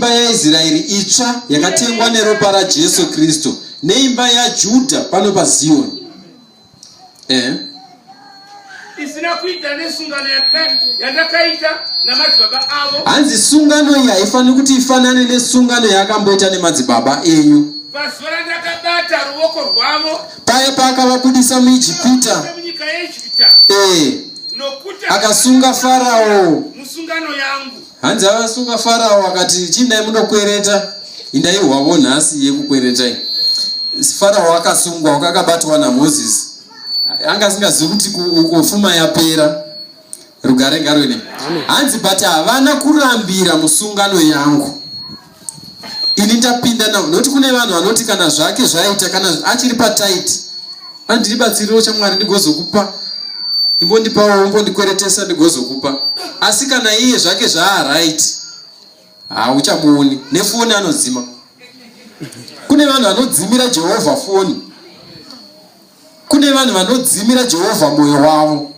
mimba yaisraeri itsva yakatengwa neropa rajesu kristu neimba yajudha pano paziyoni eh. isina kuita nesungano yandakaita namadzibaba avo hanzi sungano iyi haifaniri kuti ifanane nesungano yaakamboita nemadzibaba enyu pazuva randakabata ruoko rwavo paye paakavabudisa muijipita munyika yeijipita ee eh. nokuti akasunga farao musungano yangu Hanzi avasunga Farao akati chindai munokwereta indai hwavo nhasi yekukweretai. Farao akasungwa wakakabatwa naMoses. Anga asingazivi kuti kufuma yapera. Rugare ngarwene. Hanzi but havana kurambira musungano yangu. ini ndapinda navo nokuti kune vanhu vanoti kana zvake zvaita kana achiri pataiti ani ndiribatsiriwo chamwari ndigozokupa imbondipawo umbondikweretesa ndigozokupa asi kana iye zvake zvaaright hauchamuoni nefoni anodzima kune vanhu vanodzimira jehovha foni Kune vanhu vanodzimira Jehovha mwoyo wavo.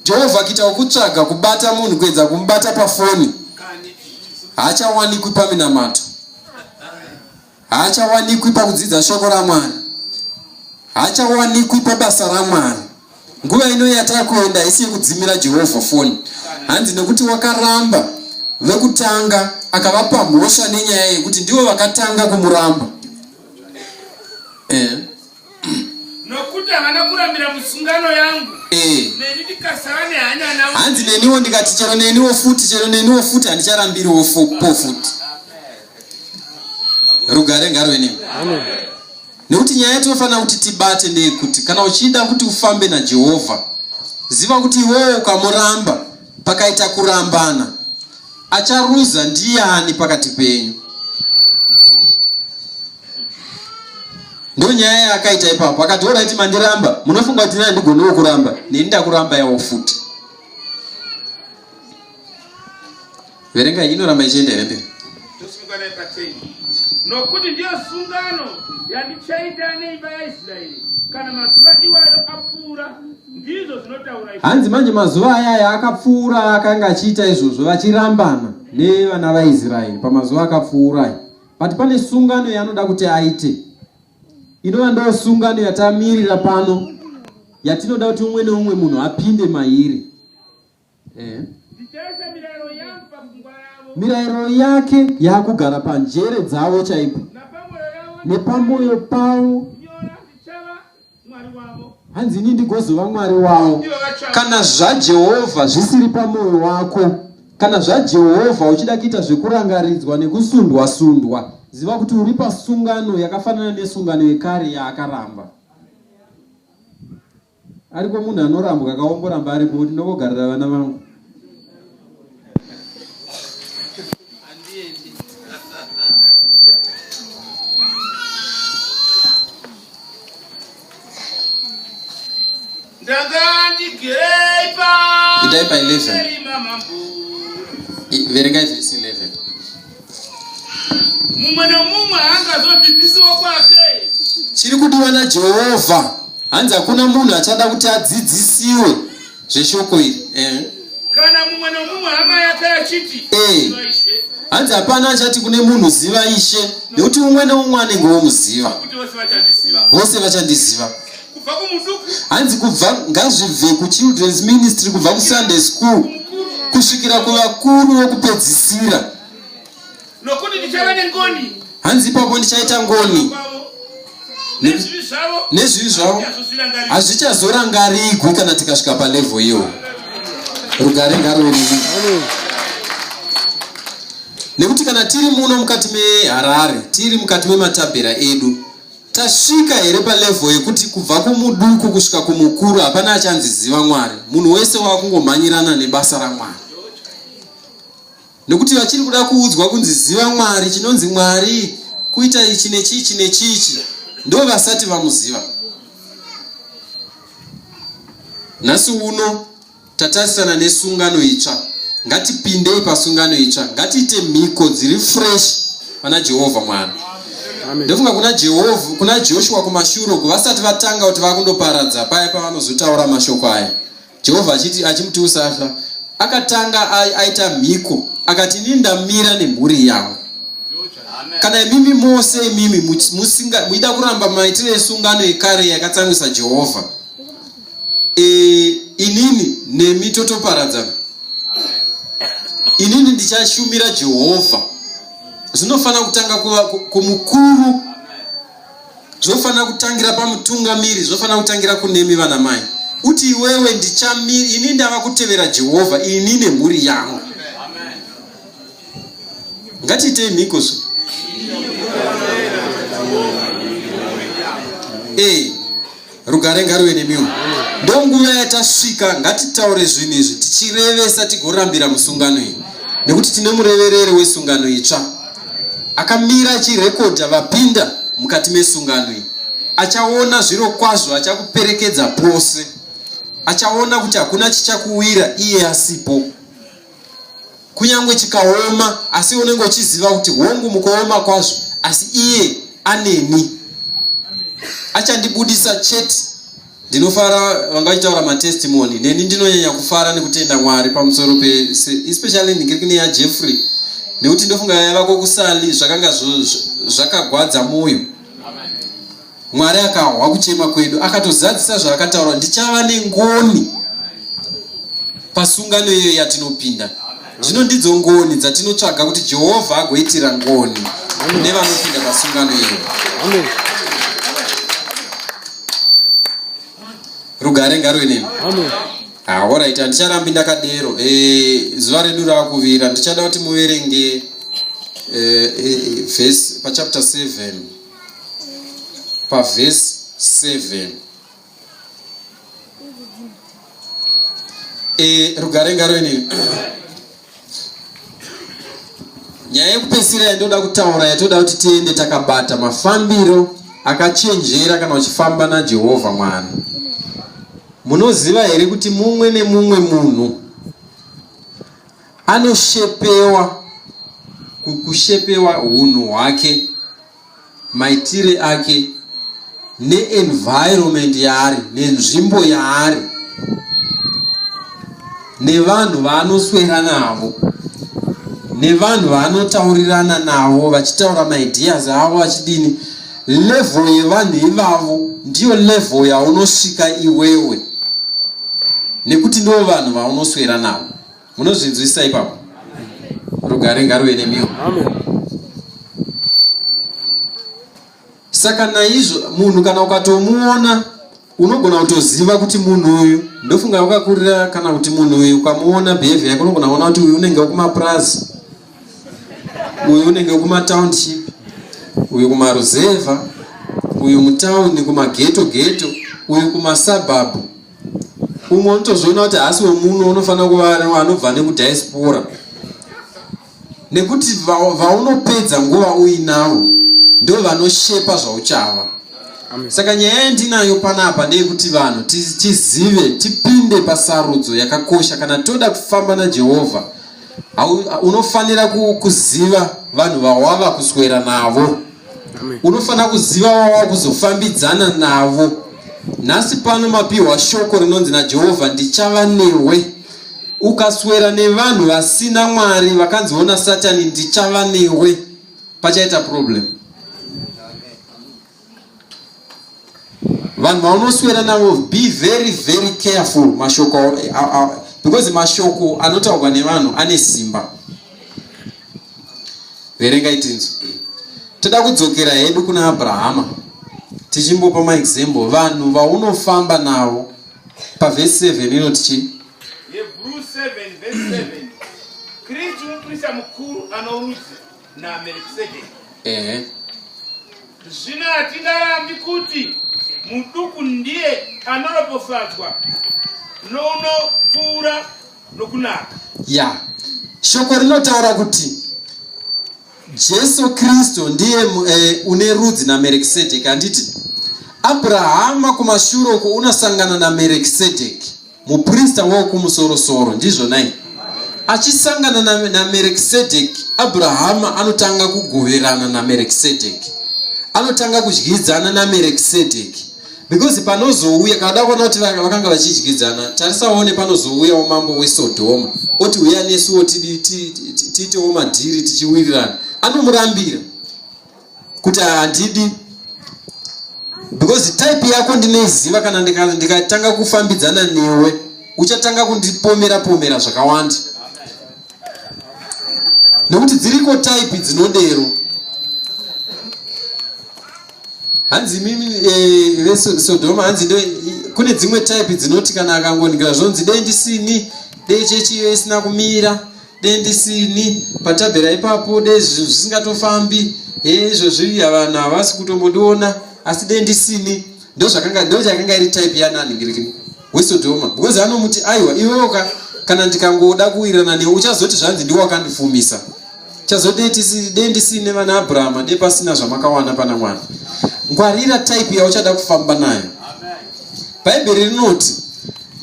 Jehovha akita wokutsvaga kubata munhu kuedza kumubata pafoni, haachawanikwi paminamato, haachawanikwi pakudzidza shoko raMwari, haachawanikwi pabasa raMwari. Nguva ino yatava kuenda isi yekudzimira Jehovha foni, hanzi nekuti wakaramba vekutanga akavapa mhosva nenyaya yekuti ndivo vakatanga kumuramba. Eh. nokuti havana kurambira musungano yangu eh. neni ndikasava nehanya navo hanzi neniwo ndikati chero neniwo futi chero neniwo futi handicharambiriwo po futi rugare ngarwe nemi nekuti nyaya yatinofanira kuti tibate ndeyekuti kana uchida kuti ufambe najehovha ziva kuti iwewo ukamuramba Pakaita kurambana, acharuza ndiani pakati penyu? ndonyaya yaakaita ipapo akati oraiti mandiramba munofunga kuti nai ndigonewo kuramba neni ndakuramba yawo futi verenga iyi inoramba ichienda here mberi tosimuka naye pateni nokuti ndiyo sungano yandichaita neimba yaisraeri kana mazuva iwayo apfuura ndizvo zvinotaura hanzi manje mazuva ayaya akapfuura akanga achiita izvozvo vachirambana nevana vaisraeri pamazuva akapfuura aya but pane sungano yaanoda kuti aite inova ndo sungano yatamirira pano yatinoda kuti umwe neumwe munhu apinde mairi Eh. mirayiro yake yaakugara panjere dzavo chaipo nepamwoyo pavo hanzi ini ndigozova mwari wavo kana zvajehovha zvisiri pamwoyo wako kana zvajehovha uchida kuita zvekurangaridzwa nekusundwa sundwa ziva kuti uri pasungano yakafanana nesungano yekare yaakaramba ariko munhu anorambwa akaomboramba aripo kuti ndokogarira vana vangu Did I by 11? Verengai zvese 11. mumwe nomumwe angazodzidzisiwo kwake chiri kudiwa najehovha hanzi hakuna munhu achada kuti adzidzisiwe zveshoko iri eh. kana mumwe nomumwe hama yake achiti eh. hanzi hapana achati kune munhu ziva ishe nekuti umwe neumwe anenge womuziva vose vachandiziva kubva kumuduku hanzi kubva ngazvibve kuchildren's ministry kubva kusunday school kusvikira kuvakuru vokupedzisira nokuti ndichava nengoni hanzi ipapo ndichaita ngoni nezvivi zvavo hazvichazorangarigwi kana tikasvika palevho iyo rugare ngarorii nekuti kana tiri muno mukati meharare tiri mukati mematabhera edu Tasvika here palevel yekuti kubva kumuduku kusvika kumukuru hapana achanzi ziva Mwari. Munhu wese wakungomhanyirana nebasa raMwari. Nekuti vachiri kuda kuudzwa kunzi ziva Mwari, chinonzi Mwari kuita ichi nechichi nechichi ndo vasati vamuziva. Nhasi uno tatarisana nesungano itsva ngatipindei pasungano itsva ngatiite mhiko dziri fresh pana jehovha mwana ndofunga kuna jehovha kuna joshua kumashure uku vasati vatanga kuti vakundoparadza paya pavanozotaura mashoko aya jehovha achiti achimuti usafa akatanga aita mhiko akati ini ndamira nemhuri yangu kana imimi mose imimi muida kuramba maitiro esungano yekare yakatsamwisa jehovha e, inini nemi totoparadzana inini ndichashumira jehovha zvinofanira kutanga kuva kumukuru zvofanira kutangira pamutungamiri zvofanira kutangira kunemi vana mai uti iwewe ndichamiri ini ndava kutevera jehovha ini nemhuri yangu ngatiitei mhikozo e. rugare ngaruve nemiwo ndo nguva yatasvika ngatitaure zvinhu izvi tichirevesa tigorambira musungano iyi nekuti tine murevereri wesungano itsva akamira achirekodha vapinda mukati mesungano iyi achaona zviro kwazvo achakuperekedza pose achaona kuti hakuna chichakuwira iye asipo kunyangwe chikaoma asi unenge uchiziva kuti hongu mukuoma kwazvo asi iye aneni achandibudisa chete ndinofara vanga vachitaura matestimony neni ndinonyanya kufara nekutenda mwari pamusoro pe especially ndikiri neya jeffrey nekuti ndofunga yavako kusali zvakanga zvakagwadza mwoyo Mwari akahwa kuchema kwedu, akatozadzisa zvaakataura, ndichava nengoni pasungano iyoyo yatinopinda. Zvino ndidzo ngoni dzatinotsvaga kuti Jehovha agoitira ngoni nevanopinda pasungano iyoyo. Rugare ngaruve nemi. Ahoraiti, ah, handicharambi ndakadero. Eh, zuva redu rakuvira, ndichada kuti muverenge eh, eh, vhesi pachapter 7. pavhesi 7 e, eh, rugare ngaroini nyaya yekupesira yandoda kutaura yatoda kuti tiende takabata mafambiro akachenjera kana uchifamba najehovha mwari munoziva here kuti mumwe nemumwe munhu Anoshepewa kushepewa hunhu hwake, maitire ake neenvironment yaari nenzvimbo yaari nevanhu vaanoswera navo nevanhu vaanotaurirana navo vachitaura maideas avo vachidini level yevanhu ivavo ndiyo level yaunosvika iwewe nekuti ndivo vanhu vaunoswera navo munozvinzwisisa ipapo rugare ngaruve nemiwo saka naizvo munhu kana ukatomuona unogona kutoziva kuti munhu uyu ndofunga wakakurira kana kuti munhu uyu ukamuona behavior yake unogona kuona kuti uyu unenge wekumapurazi uyu unenge wekumatownship uyu kumaruzevha uyu mutauni kumageto geto uyu kumasabhabhu umwe unotozoona kuti haasi wemuno unofanira kuva anobva nekudiaspora nekuti vaunopedza va nguva uinavo ndo vanoshepa zvauchava saka nyaya yandinayo panapa ndeyekuti vanhu tizive tipinde pasarudzo yakakosha kana toda kufamba najehovha unofanira kuziva vanhu vawava kuswera navo unofanira kuziva wawava kuzofambidzana navo nhasi pano mapiwa shoko rinonzi najehovha ndichava newe ukaswera nevanhu vasina mwari vakanziona satani ndichava newe pachaita problem vanhu vaunoswera navo be very very careful mashoko because mashoko anotaurwa nevanhu ane simba verenga itinzo toda kudzokera hedu kuna abrahama tichimbopa maexample vanhu vaunofamba navo pavhesi 7 inoti chii kristu muprista mukuru anorudzi namerkisedeki ehe zvino hatingarambi kuti muduku ndiye anoropofadzwa nounopfuura nokunaka ya shoko rinotaura kuti jesu kristu ndiye mu- eh, une rudzi namerkisedeki handiti abrahama kumashure uko unosangana namerkisedeki muprista wokumusorosoro ndizvo nai achisangana namerekisedheki abrahama anotanga kugoverana namerekisedheki anotanga kudyidzana namerekisedheki because panozouya kada kuona kuti vakanga vachidyidzana tarisaone panozouyawo mambo wesodhoma oti uya nesuwo tiitewo madhiri tichiwirirana anomurambira kuti handidi because type yako ndinoiziva kana ndikatanga kufambidzana newe uchatanga kundipomera pomera zvakawanda nekuti dziriko type dzinodero hanzi mimi eh, vesodoma hanzi ndo kune dzimwe type dzinoti kana akangonikira zvonzi dei ndisini dei chechiyo isina kumira dei ndisini patabhera ipapo dei zvinhu zvisingatofambi hee izvozvi vanhu havasi kutombondiona asi dei ndisini ndozvakanga ndochakanga iri type yananhingirikini wesodhoma because anomuti aiwa iweoka kana ndikangoda kuwirirana newe uchazoti zvanzi ndiwo wakandifumisa chazodei dei ndisine vana abrahama dei pasina zvamakawana pana mwari ngwarira type yauchada kufamba nayo bhaibheri rinoti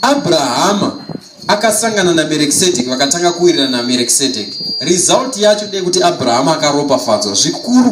abrahama akasangana namerekisedheki vakatanga kuwirirana namerekisedheki result yacho ndeyekuti abrahama akaropafadzwa zvikuru